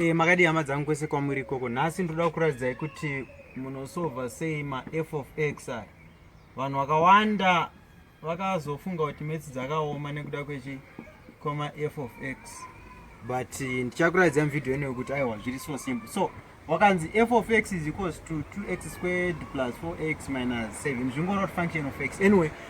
E, makadii hama dzangu kwese kwamuri ikoko nhasi ndoda kukuratidzai kuti munosova sei maf of x aya vanhu vakawanda vakazofunga kuti metsi dzakaoma nekuda kwechi koma f of x but eh, ndichakuratidzai muvhidhiyo ino yekuti aiwa zviri so simple so wakanzi f of x is equals to 2x squared plus 4x minus 7 zvingorot function of x anyway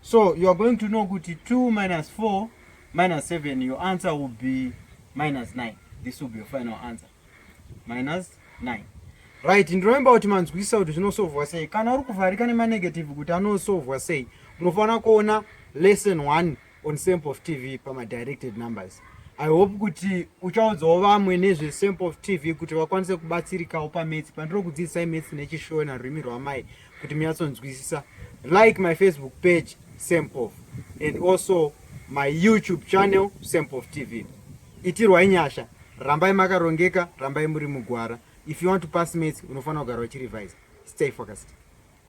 So you are going to know kuti 2 minus 4 minus 7 your answer will be minus 9. This will be your final answer. Minus 9. Right, ndinovimba kuti manzwisisa kuti zvinosovhwa sei. Kana uri kuvharika nemanegative kuti anosovhwa sei, unofanira kuona lesson 1 on sample of TV pamadirected numbers. I hope kuti uchaudzawo vamwe nezve sample of TV kuti vakwanise kubatsirikawo pametse pandiri kudzidzisai metse nechishona rurimi rwamai kuti munyatsonzwisisa like my facebook page sempof and also my youtube channel sempof tv itirwai nyasha rambai makarongeka rambai muri mugwara if you want to pass mates unofanira kugara uchirevise stay focused